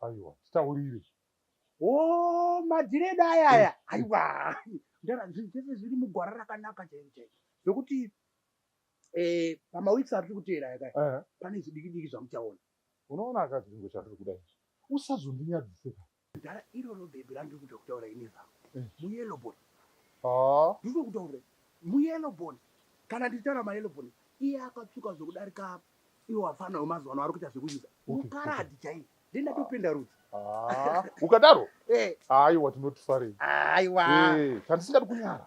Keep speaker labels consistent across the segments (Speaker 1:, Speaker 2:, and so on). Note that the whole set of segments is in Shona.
Speaker 1: aiwa titaurire
Speaker 2: o oh,
Speaker 1: madhiredi aya aya eh. aiwa ndara zvinhu zvese zviri mugwara rakanaka chairo chairo zvekuti eh, pamaweeks ari tiri kuteera yaka eh. pane zvidiki diki zvamuchaona unoona akazvingo
Speaker 2: chatiri kuda izvi usazondinyadziseka Dara
Speaker 1: iroro baby randiri kuda kutaura ini zvangu. Eh. Muyellow bone. Ah. Ndiri kutaura muyellow bone. Kana ndichitaura mayellow bone iye akatsvuka zvekudarika iwo afana wemazuva ano ari kuita zvekuita. Mukaradhi chaiye. Ndindatopinda rudzi. Ah. Ukadaro?
Speaker 2: Eh. Aiwa tinotifarei. Aiwa. Eh,
Speaker 1: chandisingadi
Speaker 2: kunyara.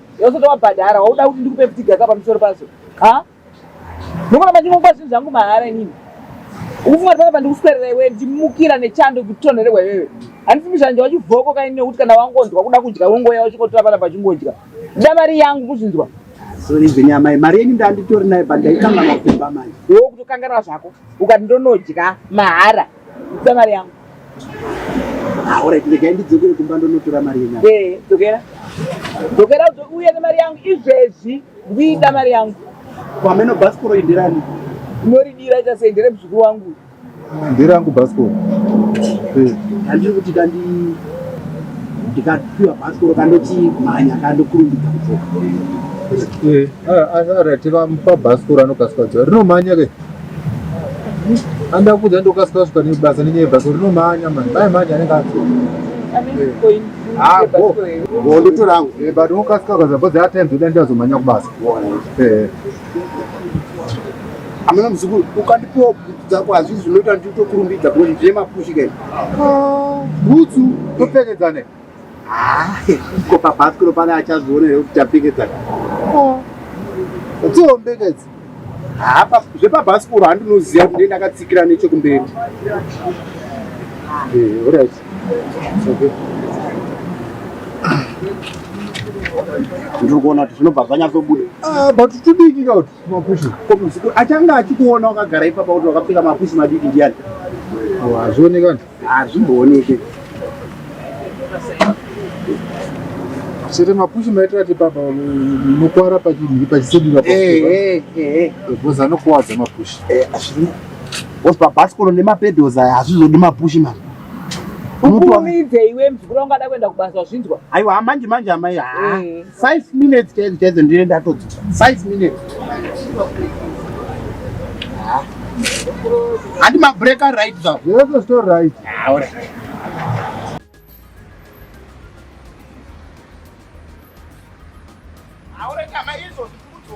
Speaker 3: yosota wabhadhara wauda kuti ndikupe ptiga ka pamusoro pazo ha ndokona mandingokupa zvinhu zvangu mahara inini ukufunga tipaa pandikuswerera iwe ndimukira nechando kutonherehwa iwewe handisi muzhanje wachivhoko kaini nekuti kana wangonzwa kuda kudya wongoya uchingotora pana pachingodya nda mari yangu kuzvinzwa
Speaker 1: amai mari yenyu ndanditori nayo but ndaikanga makumba manje wo kutokanganwa zvako
Speaker 3: ukati ndonodya mahara ida mari yangu
Speaker 1: Alright, regai ndidzokere kumba ndonotora mari yenyu. Eh,
Speaker 3: dzokera. Dzokera uye nemari yangu izvezvi ndiida mari yangu. Kwameno bhasikoro
Speaker 1: indirani. Unoridira
Speaker 3: ita sei ndere muzukuru wangu. Ndirangu
Speaker 2: bhasikoro. Eh.
Speaker 1: Handiri kuti kandi ndikapiwa bhasikoro kandoti mhanya kandokurumbidza kudzoka. Eh, ah, ah, ah, tiva mupa
Speaker 2: bhasikoro anokasika dzoka. Rinomhanya ke. Anda kuda ndokasika kusvika nebasa nenyaya basa rinomhanya mani mai mhanya anenge atsoo Ah,
Speaker 1: go. Go ndito rangu. Eh, but unokasika kaza
Speaker 2: but that time zvoda ndazomhanya kubasa. Eh.
Speaker 1: Amana mzukuru ukandipiwa bhutsu dzako hazvizi zvinoita nditokurumbidza kuti zvemapushi kai. Ah,
Speaker 2: bhutsu topfekedzane. Ah,
Speaker 1: ko pabhasikoro pane achazviona here kuti tapfekedzana
Speaker 2: dziombeka idzi
Speaker 1: zvepabhasikoro handinoziva kuti ndakatsikira nechekumberi eh,
Speaker 2: orit
Speaker 1: ndiri kuona kuti zvinobva zvanyatsobuda ah, but tudiki
Speaker 2: ka kuti mapushi achanga
Speaker 1: achikuona wakagara ipapa kuti wakapfeka mapushi madiki ndiyani hazvionekani
Speaker 2: hazvimbooneke chete mapushi maitira ti papa munokwara pachinhiri pachisedura bhozi anokuwadza mapushi
Speaker 1: bhozi pabhasikoro nemapedhozi aya hazvizodi mapushi mani
Speaker 3: ukurumidze iwe mzukuru wangada kuenda kubasa wazvinzwa aiwa manje manje
Speaker 1: amai haa 5 minutes chaidzo chaidzo ndine ndatodzoka 5 minutes handi mabreak aright zvawo yotosito right aure aure
Speaker 2: kama izvo
Speaker 1: zvikudzo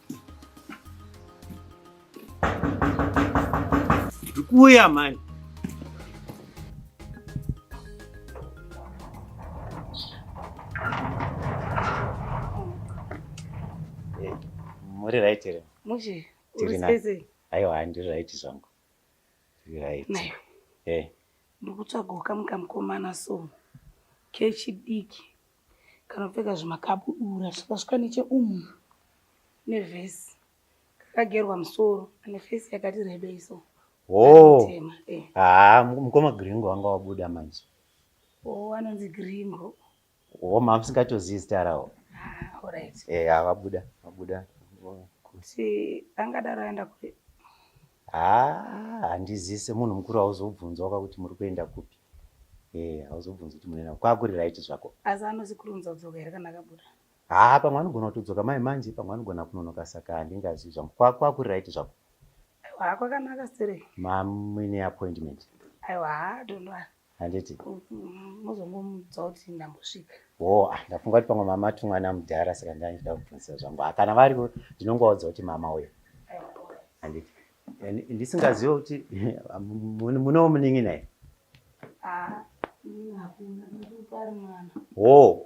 Speaker 4: Kuya mani. Eh, muri right here? Mushe, uri
Speaker 5: space.
Speaker 4: Aiwa,
Speaker 5: ndiri right
Speaker 4: zvangu. Ndiri right. Nayo.
Speaker 5: Eh. Ndikutsvaga ukamuka mukomana so. Kechidiki. kanopfeka zvimakabudura zvikasvika necheumu nevhesi kakagerwa musoro ane fesi yakati rebei so oh.
Speaker 4: eh. ah, mukoma gringo wanga wabuda manje o oh,
Speaker 5: anonzi gringo o oh, mama
Speaker 4: singatozivi zita rawo ah,
Speaker 5: eh, ah, vabuda
Speaker 4: vabuda kuti
Speaker 5: angadaro aenda kure haa
Speaker 4: handizivi semunhu mukuru hauzobvunzwa ka kuti muri kuenda kupi e hauzobvunzi kuti munoenda kwakuri right zvako asi anozi kurunza
Speaker 5: kudzoka here kana akabuda haa pamwe anogona
Speaker 4: kutodzoka mai manje pamwe anogona kunonoka saka handingazivi zvangu kwakuri right zvako aiwa
Speaker 5: kwakanaka sere mamwine
Speaker 4: appointment aiwa haa
Speaker 5: dondoa handiti
Speaker 4: mozongomudza
Speaker 5: kuti ndambosvika wo ah, ndafunga kuti
Speaker 4: pamwe mama ti mwana mudhara saka ndaida kubvunzisa zvangu ah, kana variwo ndinongovaudza kuti mama uyo handiti ndisingazive kuti munowo munin'ina here wo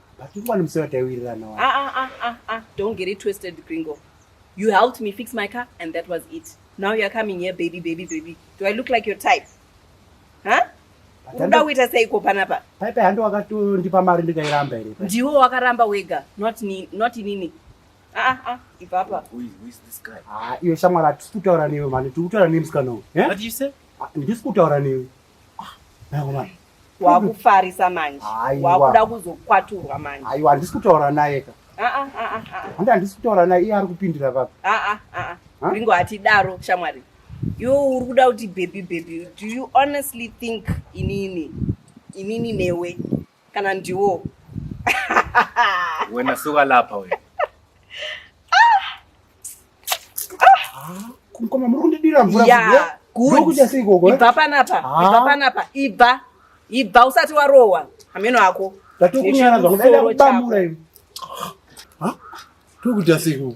Speaker 5: But you want
Speaker 1: to say what I will run away. Ah, ah, ah, ah, ah. Don't get it twisted,
Speaker 5: Gringo. You helped me fix my car, and that was it. Now you're coming here, baby, baby, baby. Do I look like your type? Huh? unoda kuita seiko panapa paipai handi wakatondipa
Speaker 1: mari ndikairamba here ndiwo wakaramba wega
Speaker 5: not ni, not inini ah, ah, ah, ipapa
Speaker 4: iyo shamwari hatisi
Speaker 1: kutaura newe mani tiri kutaura newe musikana uyu eh?
Speaker 4: ndisi kutaura newe
Speaker 1: wakufarisa
Speaker 5: manje wakuda kuzokwaturwa manje aiwa handisi kutaura naye
Speaker 1: ka ah, ah, ah, handi handisi kutaura naye iye ari kupindira papi ringo
Speaker 5: hatidaro shamwari yo uri kuda kuti bhebhi bhebhi do you honestly think inini inini newe kana ndiwo
Speaker 4: wena suka lapha wena
Speaker 1: mkoma muri kundidira mvura kuudya
Speaker 5: sei gogo ibva panapa ibva panapa ibva ibva usati warohwa hameno ako ndatokunyara
Speaker 1: zvangu ndaida kubamura iwe tokudya sei gogo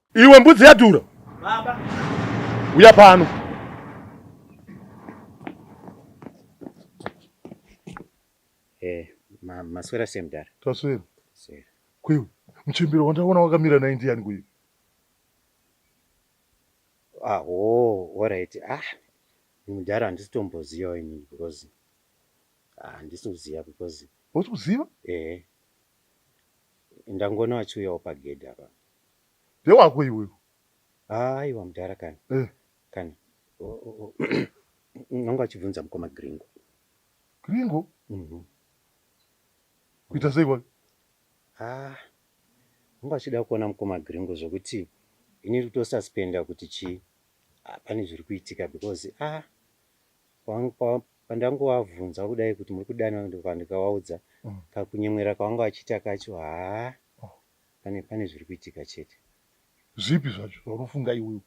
Speaker 5: Iwe mbudzi yadhura.
Speaker 2: Baba.
Speaker 4: Uya
Speaker 2: pano.
Speaker 4: Eh, ma maswera semdara. Taswera.
Speaker 2: Sera.
Speaker 4: Kuiwe,
Speaker 2: mchembero wandaona wakamira na Indian kuiwe. Ah,
Speaker 4: oh, all right. Ah, mdara handisitomboziva ini because ah, handisi kuziva because. Wotikuziva? Eh. Ndangoona wachiuyawo pagedhi apa. ndewako
Speaker 2: iwe aiwa
Speaker 4: mudhara kani eh. kani nanga achibvunza mukoma gringo gringo
Speaker 2: mhm.
Speaker 4: kuita sei wake
Speaker 2: ah nanga achida
Speaker 4: kuona mukoma gringo
Speaker 2: zvokuti
Speaker 4: ini rikutosuspenda kuti chii ah, pane zviri kuitika because ah pandangovabvunza kudai kuti muri kudana ndikavaudza mm. kakunyemwera kavanga vachiita kacho haa pane pane zviri kuitika chete zvipi
Speaker 2: zvacho zvaunofunga iwewe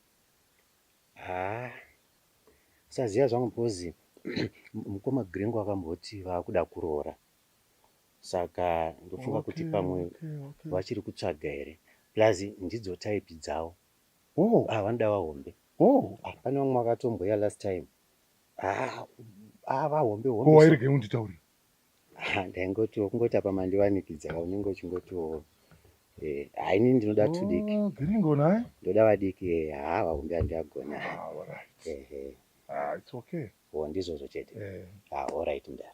Speaker 2: haa
Speaker 4: saziva zvangu because mukoma grengo akamboti vaakuda kuroora saka ndofunga kuti pamwe vachiri kutsvaga here plus ndidzo type dzavo oh. ah, vanoda vahombe oh. ah, pane vamwe vakatomboya last time ah, ah, vahombe hombewairege unditaurira
Speaker 2: ndaingoti
Speaker 4: kungoti apa mandivanikidza ka unenge uchingotiwo eh, haini ndinoda two diki Oh, Giringo naye.
Speaker 2: ndoda vadiki eh,
Speaker 4: haa vahombe handiagona Ah, all right. ehe Ah,
Speaker 2: it's okay. wo ndizvozvo chete
Speaker 4: Eh. ah, all right mdara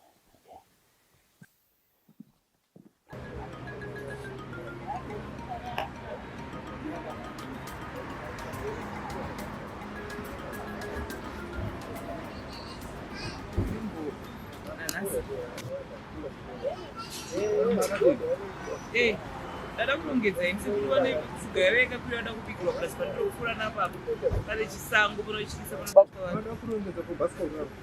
Speaker 3: Hey, dada kurongedza ini sekuti vane tsuga yave yakapira vada kubikirwa plus pandiro kupfuura napapo pane chisango panochiisa panoda kurongedza kubhasikoro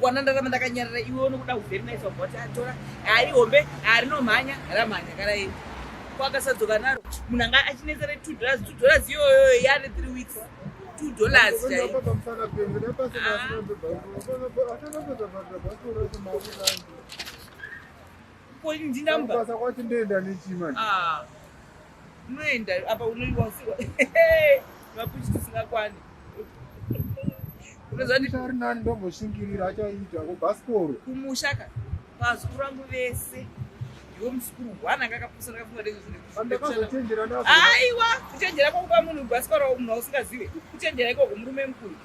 Speaker 3: kwana ndarama ndakanyarara iwe unokuda kuvherinaifa bhoti atora hari hombe harinomhanya ramhanya kana ii kwakasadzoka naro munhu anga achinetsera two dollars two dollars iyoyo yane three weeks two dollars chaiyo Ko ndi number. Basa kwati ndoenda nechi manje. Ah. Unoenda apa unoiwa usiwa. Mapuchi tisingakwani.
Speaker 1: Unozwa ndi ari nani ndomboshingirira achaita ko basikoro. Kumushaka.
Speaker 3: Pazukuru rangu vese. Iwe muzukuru wana ngakapusa ngakafunga ndezvo zvine. Andakazochenjera napo. Aiwa, kuchenjera kwa kupa munhu basikoro munhu usingazive. Kuchenjera iko kumurume mukuru.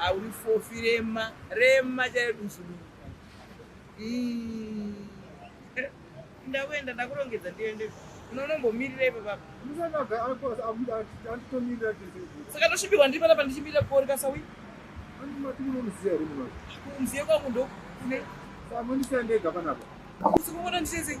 Speaker 3: Auri fofi rema, rema chaidusu. Mm. ndakuenda ndakurongedza ndiende unonombomirira ipo baba saka ndosvibirwa ndiri panapa ndichimirira kuori kasawi kumziye kwangu ndokune
Speaker 1: usiku kona
Speaker 3: ndichezei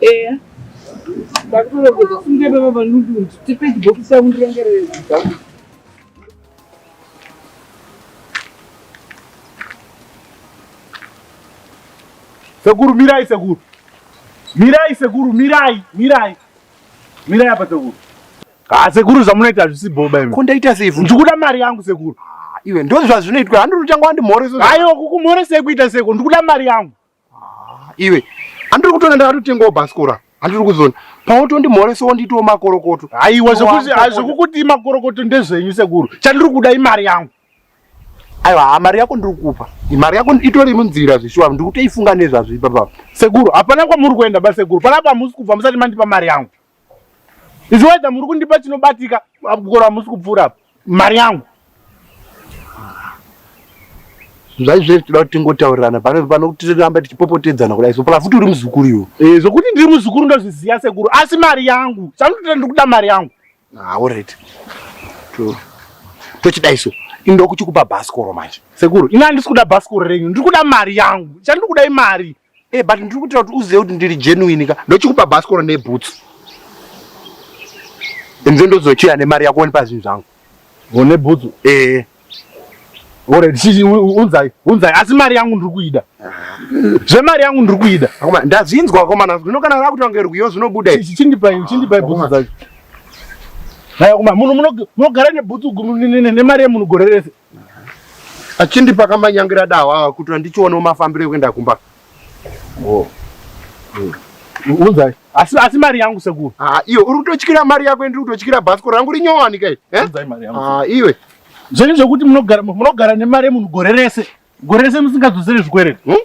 Speaker 3: eya ndakutoregedza
Speaker 2: kufunga baba vanundu kuti tipe chibhokisi yangu ndirengerere zvidzangu sekuru mirai sekuru mirai sekuru mirai mirai mirai apa sekuru ha ah, sekuru zvamunoita hazvisi boba imi ko ndaita sei ndikuda
Speaker 1: mari yangu sekuru
Speaker 2: ah, iwe ndozvazvinoitwa
Speaker 1: handiri uchanga wandimhoresa aiwa kukumhoresa
Speaker 2: ekuita seko ndikuda mari yangu Ah, iwe
Speaker 1: andiri kutoona ndakatotengawo bhasikora andiri kuzona pautondimhoreso wonditiwo makorokoto aiwa zvekukuti
Speaker 2: makorokoto ndezvenyu sekuru chandiri kuda imari yangu aiwa
Speaker 1: ha mari yako ndiri kukupa mari yako itori munzira zveshuwa ndiri kutoifunga nezvazvo ipapa sekuru hapana
Speaker 2: kwamuri kuenda basekuru panapa hamusi kubva musati mandipa mari yangu Izvi waida muri kundipa chinobatika kukora musi kupfuura mari yangu.
Speaker 1: Zvaizve tinoda kuti tingotaurirana pano pano kuti tiramba tichipopotedzana kudai so plus uri muzukuru iwo. Eh zvokuti ndiri muzukuru
Speaker 2: ndozviziva sekuru asi mari yangu. Sanotenda ndikuda mari yangu. Ah all right.
Speaker 1: To tochidai so indokuchikupa bhasikoro manje. Sekuru ini handisi kuda
Speaker 2: bhasikoro renyu ndiri kuda mari yangu. Chandiri kuda imari.
Speaker 1: Eh, but
Speaker 2: ndiri
Speaker 1: kuitira kuti uzive kuti ndiri
Speaker 2: genuine
Speaker 1: ka. Ndochikupa bhasikoro
Speaker 2: nebhutsu.
Speaker 1: Inze ndozochiya nemari yako wonipa zvinhu zvangu. One bhutsu?
Speaker 2: Eh. Alright, sisi unzai, unzai asi mari yangu ndiri kuida. Zvemari yangu ndiri kuida. Akoma ndazvinzwa akoma
Speaker 1: nazvo. Zvino kana rakuti wange rwiyo zvinobuda izvi. Chindipai, chindipai
Speaker 2: bhutsu dzacho. Haya kuma munhu munogara nebhutsu nemari yemunhu gore rese.
Speaker 1: achindipa kamanyangira dahwa awa kuti andichionewo mafambiro ekuenda kumba oh.
Speaker 2: mm. unzai asi asi mari yangu sekuru ah, iwe uri kutotyira
Speaker 1: mari yako ndiri kutotyira bhasko rangu rinyowanika eh? eh? ah,
Speaker 2: iwe zvenyu
Speaker 1: zvekuti
Speaker 2: munogara munogara nemari yemunhu gore rese gore rese musingadzosere zvikwereti hmm?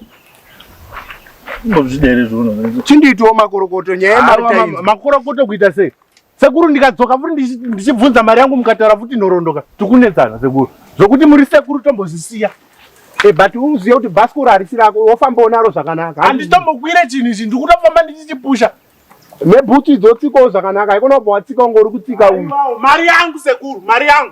Speaker 2: chinditwo makorokoto
Speaker 1: nyaya yemakorokoto kuita
Speaker 2: sei Sekuru ndikadzoka futi ndichibvunza mari yangu mukataura futi nhoroondo tikunetsana sekuru zvokuti muri sekuru tombozvisiya eh, but
Speaker 1: uzive kuti bhasikoro harisi rako wofamba unaro zvakanaka handitombokwire chinhu
Speaker 2: ichi ndikutofamba ndichichipusha nebhutsu
Speaker 1: idzotsikawo zvakanaka haikona kubva watsika unge uri kutsika uyu mari
Speaker 2: yangu sekuru mari
Speaker 1: yangu